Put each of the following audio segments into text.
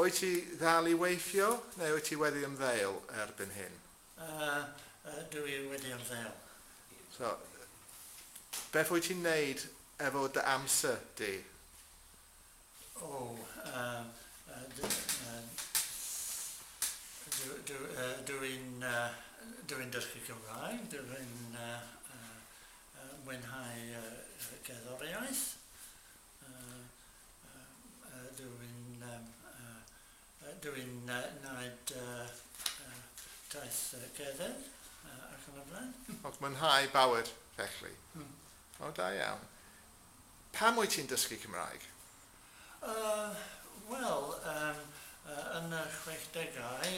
Wyt ti ddal i weithio neu wyt ti wedi ymddeol erbyn hyn? Yy, ydw i wedi ymddeol. So, beth wyt ti'n neud efo dy amser di? O, yy, dw i'n dysgu Cymraeg, dw i'n mwynhau cerddoriaeth. Dw i'n wneud taith cerdded ac yn y blaen. Ond mwynhau bywyd, felly. O, da iawn. Pam wyt ti'n dysgu Cymraeg? Wel, yn y chwechdegau,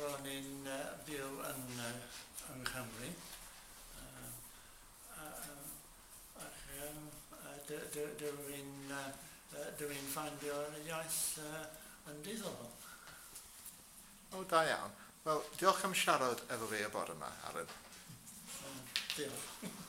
ro'n i'n byw yng Nghymru. Dw i'n ffeindio'r iaith yn diddorol. O, da iawn. Wel, diolch am siarad efo fi y bore 'ma, Aaron. Diolch.